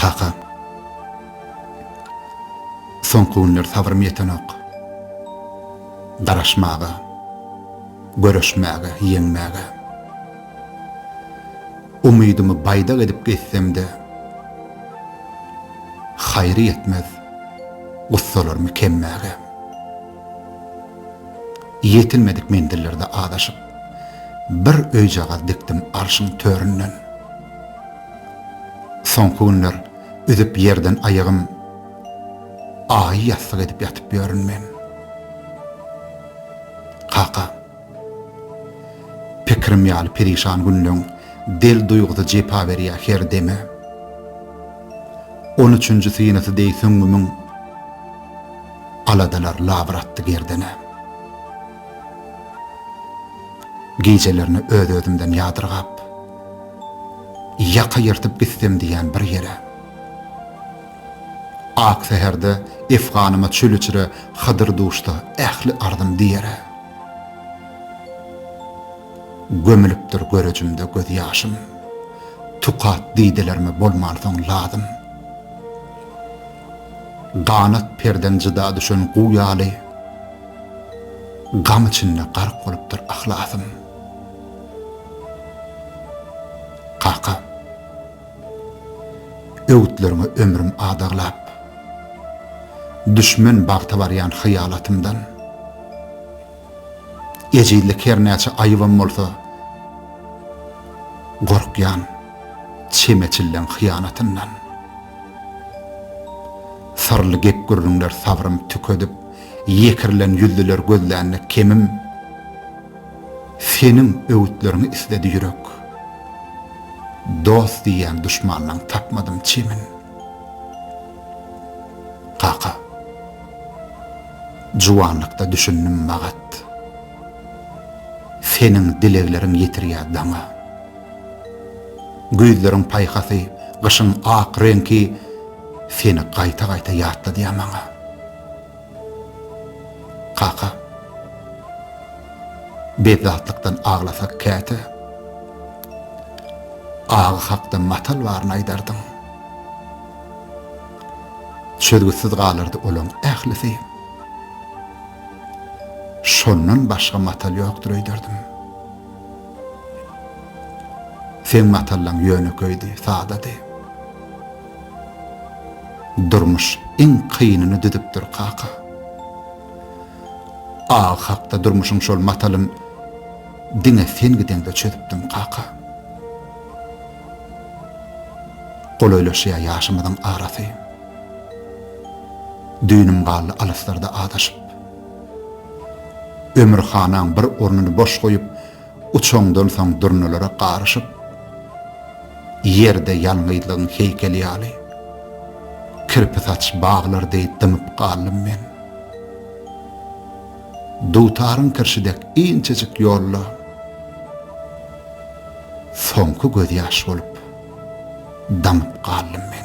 Kaka. Soňky günler sabrym ýetenok. Garaşmaga, göreşmäge, ýeňmäge. Umydymy baýdak edip gezsem-de, haýry ýetmez gussalarymy kemmäge. Ýetilmedik menzillerde azaşyp. Bir öýjagaz dikdim arşyň töründen. Soňky günler üzüp ýerden aýagym, Aýy ýassyk edip ýatyp ýörün men. Kaka, pikirim ýaly perişan günleň Del duýgusy jepa berýär her deme. On üçünji synysy deý süňňümiň, Aladalar labyr atdy gerdene. Gijelerine öz-özümden ýadyrgap, ýaka ýyrtyp gitsem diýýän bir ýere. Ak säherde efganyma çöl içre Hydyr duşsa ähli arzym diýere. Gömülipdir görejimde göz ýaşym, tukat didelerime bolmansoň lazym. Ganat perden jyda düşen guw ýaly, Gam içinde gark bolupdyr yhlasym. Kaka, öwütleriňe ömrüm adaglap, Düşmen bagta barýan hyýalatymdan. Ejizlik her näçe aýybam bolsa, Gorkýan çemeçilleň hyýanatyndan. Syrly gep-gürrüňler sabrym tükedip, ýekirilen ýüzlüler gözlände kemim, Seniň öwütleriňi isledi ýürek. Dost diýýän duşmandan tapmadym çemin. Kaka. Juwanlykda düşündim magat. Seniň dilegleriň ýetirýär daňa. Güýzleriň paýhasy, gyşyň ak reňki seni gaýta-gaýta ýatladýar maňa. Kaka, bezatlykdan aglasak käte, Agy hakda matal baryny aýdardyň. Çözgütsiz galardy olaň ählisi. Şondan başga matal ýokdur öýderdim. Seň matallaň ýönekeýdi, sadady. Durmuş iň kynyny düzüpdir, kaka. Agy hakda durmuşyň şol matalyn diňe sen gideňde çözüpdiň, kaka. Golaýlaşýar ýaşymyzyň arasy. Düýnüm galdy alyslarda azaşyp. Ömür hanaň bir ornuny boş goýup, uçandan soň durnalara garyşyp, ýerde ýalňyzlygyň heýkeli ýaly, kirpi saç baglar deý dymyp galdym men. Dutaryň kirşi dek inçejik ýolda soňky gözýaş bolup damyp galdym men.